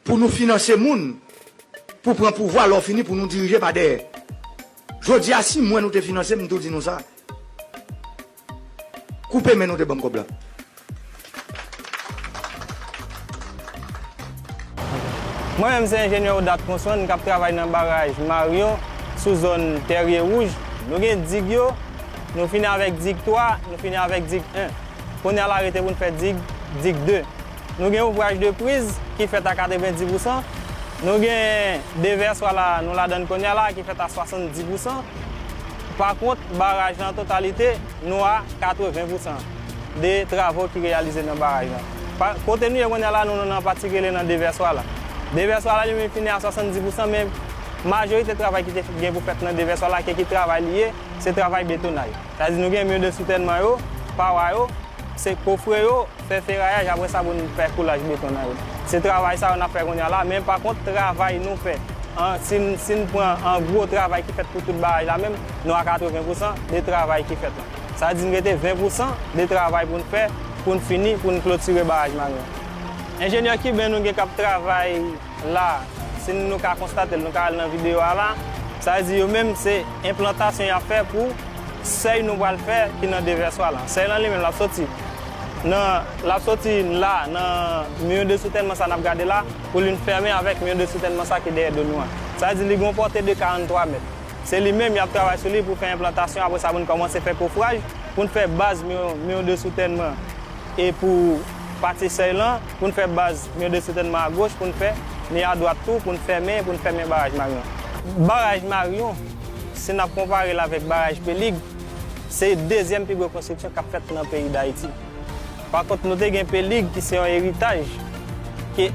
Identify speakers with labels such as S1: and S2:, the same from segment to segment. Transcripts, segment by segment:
S1: Pou nou finanse moun pou pran pouvwa lè w fini pou nou dirije pa dèyè. Jodi a si m wè nou te finanse m m tou di nou sa. Koupe men nou te ban m kòb la.
S2: Mwen menm se enjenyè Odat Consson kap travay nan baraj Marion sou zòn Tèrye Wouj. Nou gen dig yo, nou fini avèk dig 3, nou fini avèk dig 1. Kounye a la rete pou n fè dig, dig 2. Nou gen ouvraj de priz ki fèt a 90 pousan, nou gen devèswa la nou ladann kounye a la ki fèt a 70 pousan. Pa kont baraj la an totalite. Nou a 80 pousan de travo ki reyalize nan baraj lan. Kote nou ye kounye a la, nou nan pati ki rele nan devèswa la. Devèswa la li menm fini a 70 pousan men majorite travay ki te gen pou fèt nan devèswa la ke ki travay li ye, se travay betonaj. Sa vle di nou gen mur de soutènman yo, pawa yo, se kofre yo. Fè ferayaj apre sa pou n fè koulaj beton nan yo. Se travay sa yo n ap fè kounye a la men pa kont travay nou fè an si n si n pran an gwo travay ki fèt pou tout baraj la menm nou a 80 pousan de travay ki fèt lan. Sa di n rete 20 pousan de travay pou n fè pou n fini pou n klotire baraj Marin an. Enjenyè kiben nou gen k ap travay. La, si nou ka konstate'l, nou ka al nan video a la, sa vle di yo menm se enplantasyon y'ap fè pou sèy nou pral fè ki nan devèswa la. Sèy lan li menm l'ap soti nan, l'ap soti la nan miyon de soutènman sa n'ap gade la pou li vin fèmen avèk miyon de soutènman sa ki dèyè do nou an. Sa vle di li gen yon pòte de 43 mèt. Se li menm y'ap travay sou li pou fè enplantasyon apre sa pou nou kòmanse fè kofraj pou nou fè baz miyon, miyon de soutènman e pou pati sèy lan. pou n fè baz Myo de Soutènman a goch pou n fè Myo a dwat tou pou n fèmen pou n fèmen Baraj Maryon. Baraj Maryon, si n ap konpare l avèk Baraj Pelig, se dezyèm pi gwo konstriksyon k ap fèt nan peyi Dayiti. Pa kont nou te gen Pelig ki se yon eritaj ke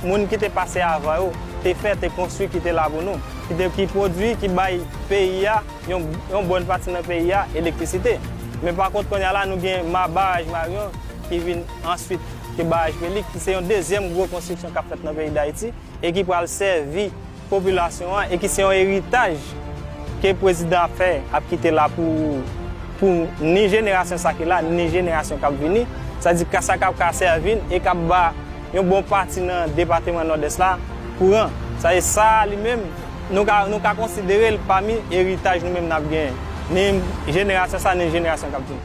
S2: moun ki te pase avan yo te fè, te konstwi kite la pou nou, ki pwodwi, ki bay peyi a, yon bòn pati nan peyi a, elektrisite. Men pa kont kounye a la nou gen Baraj Maryon ki vin Answit ke baraj Pelig ki se yon dezyèm gwo konstriksyon kap fèt nan peyi Dayiti e ki pral sèvi popilasyon an e ki se yon eritaj ke prezidan ap fè ap kite la pou pou ni jenerasyon sa ki la ni jenerasyon kap vini sa di ka sa kap ka sèvi n e kap ba yon bon pati nan depateman Nòdès la kouran sa di sa li menm nou ka nou ka konsidere l pami eritaj nou menm nap genyen ni jenerasyon sa ni jenerasyon kap vini.